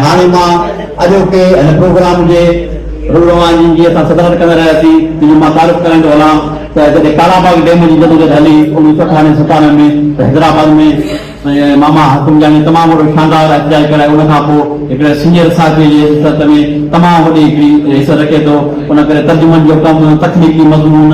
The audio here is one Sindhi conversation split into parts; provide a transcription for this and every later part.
هاڻي مان اڄوڪي هن پروگرام جي رو رواني جي اسان صدارت ڪندڙ رهياسين جن جو مان تعارف ڪرائيندو هلان ته جڏهن ڪالا باغ ڊيم جي جدوجهد هلي اڻويهه سو اٺاڻوي ستانوي ۾ ته حيدرآباد ۾ ماما حاڪم جاني تمام وڏو شاندار احتجاج ڪرائي ان کان پوء هڪڙي سينئر صحافي جي حيثيت ۾ تمام وڏي هڪڙي حيثيت رکي ٿو ان ڪري ترجمن جو ڪم تخليقي مضمون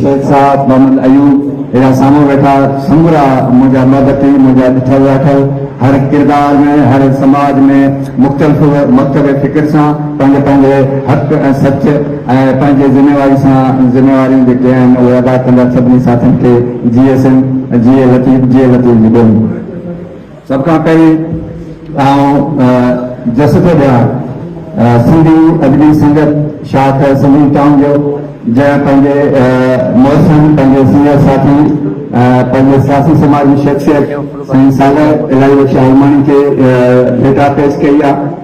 سيد صاحب محمد ايوب اهڙا سامهون ويٺا سمورا منهنجا محبتي منهنجا ڏٺل راٺل هر ڪردار ۾ هر سماج ۾ مختلف مڪتب فڪر سان پنهنجي پنهنجي حق ۽ سچ ۽ پنهنجي ذميواري سان ذميواريون جيڪي آهن اهي ادا ڪندڙ سڀني ساٿين کي جي سنڌ جيئي لطيف جيئي لطيف جي ٻولي. سڀ کان پهرين آئون جس ٿو ڏيان سنڌي ادبي سنگت شاخ سنڌي ٽائون جو جنهن پنهنجي محسن پنهنجي سينئر ساٿي پنهنجي سياسي سماجي شخصيت سائين صالح الاهي بخش عالماڻي کي ڀيٽا پيش ڪئي آهي.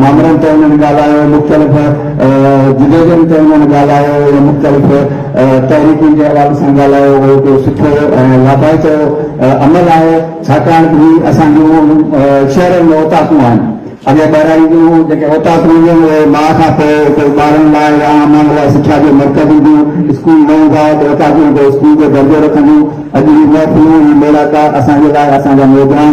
مامرن تي انهن ڳالهايو، مختلف جدوجهدن تي انهن ڳالهايو ۽ مختلف تحريڪن جي حوالي سان ڳالهايو ويو. اهو سٺو ۽ لاڀائتو عمل آهي، ڇاڪاڻ ته هي اسان جون شهرن ۾ اوطاقون آهن. اڳي ٻهراڙي جون جيڪي اوطاقون هونديون آهن، اهي ماء کان پوء ڪوئي ٻارن لاء يا عام ماڻهن لاء سکيا جو مرڪز هونديون، اسڪول نه هوندا هئا ته اوطاقون به اسڪول جو درجو رکنديون. اڄ هي محفلون، هي ميڙاڪا اسان جي لاء اسان جا نوجوان،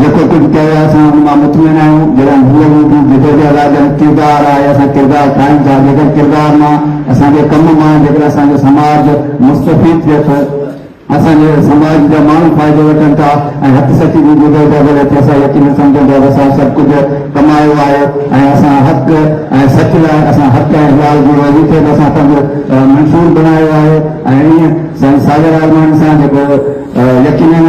جيڪو ڪجهه ڪيو اسان ان مان مطمئن آهيون جڏهن هيء هو به جدوجهد آهي جڏهن ڪردار آهي اسان ڪردار ٺاهيون ٿا جيڪر ڪردار مان اسان جي ڪم مان جيڪر اسان جو سماج مستفيد ٿئي ٿو اسان جي سماج جا ماڻهو فائدو وٺن ٿا ۽ هٿ سچي جي جدوجهد وڙهي ٿي اسان يقينن سمجهون ٿا ته اسان سڀ ڪجهه ڪمايو آهي ۽ اسان حق ۽ سچ لاء اسان حق ۽ حلال جي روزي کي به اسان پنهنجو منشور بڻايو آهي ۽ ائين سائين ساگر عالماڻي سان جيڪو يقينن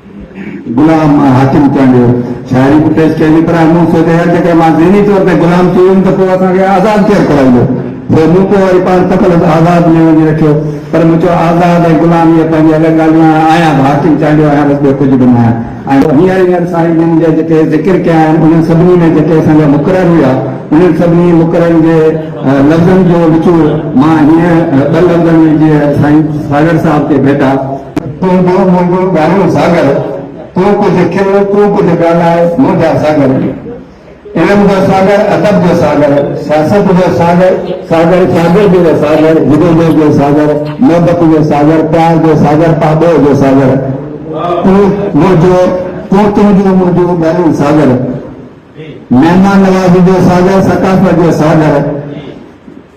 غلام مان حاڪم ٿيڻ جو شاعري به پيش ڪئي وئي پر مون سوچيو يار جيڪر مان ذهني طور تي غلام ٿي ويم ته پوء اسان کي آزاد ڪير ڪرائيندو سو مون پوء وري پاڻ تخلص آزاد ۾ وڃي رکيو پر مون چيو آزاد ۽ غلام اهي پنهنجي الڳ ڳالهيون آهن آهيان به حاڪم چانڊيو آهيان بس ٻيو ڪجهه به نه آهيان ۽ هينئر هينئر سائين جن جا جيڪي ذڪر ڪيا آهن انهن سڀني ۾ جيڪي اسان جا مقرر هيا انهن سڀني مقررن جي لفظن جو نچوڙ مان هينئر ٻه لفظن ۾ جيئن سائين ساگر صاحب کي ڀيٽا تون ڏو منهنجو ڳاڙهو ساگر، تون ڪجهه کل، تون ڪجهه ڳالهاء، منهنجا ساگر. علم جو ساگر، ادب جو ساگر، سياست جو ساگر، ساگر شاگردي جو ساگر، جدوجهد جو ساگر، محبت جو ساگر، پيار جو ساگر، پاٻوهه جو ساگر، تون منهنجو، تون تنهنجو منهنجو ڳاڙهو ساگر، مهمان نوازي جو ساگر، ثقافت جو ساگر.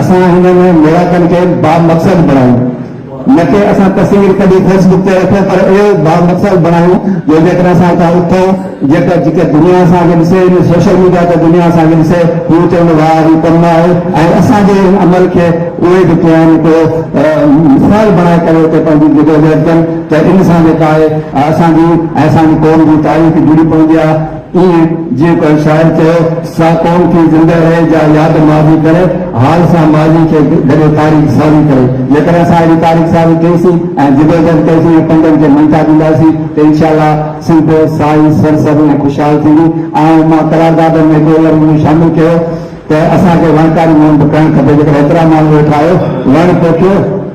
اسان هنن ميڙاڪن کي بامقصد بڻايون نه ڪي اسان تصوير ڪڍي فيس بڪ تي رکون پر اهو بامقصد بڻايون جو جيڪڏهن اسان هتان اٿون جيڪا جيڪا دنيا اسان کي ڏسي ان سوشل ميڊيا تي دنيا اسان کي ڏسي هو چون ته واهه هي ڪم آهي ۽ اسان جي ان عمل کي اهي به ڪيائين ڪو مثال بڻائي ڪري اتي پنهنجي جدوجهد ڪن ته ان سان جيڪا آهي اسان جي ۽ اسان جي قوم جي تاريخ جڙي پوندي آهي. ائين جيئن ڪنهن شاعر چيو، سا قوم ٿي زندهه رهي، جا ياد ماضي ڪري، حال سان ماضي کي گڏي تاريخ سازي ڪري. جيڪڏهن اسان اهڙي تاريخ سازي ڪئي سين ۽ جدوجهد ڪئي سين ۽ پنڊن کي مڃتا ڏيندا سين ته انشاء الله سنڌ سائي سرسبز ۽ خوشحال ٿيندي. آئون مان قرارداد ۾ هڪڙو لفظ مون شامل ڪيو ته اسان کي وڻڪاري مهم به ڪرڻ کپي، جيڪڏهن ايترا ماڻهو ويٺا آهيو، وڻ پوکيو،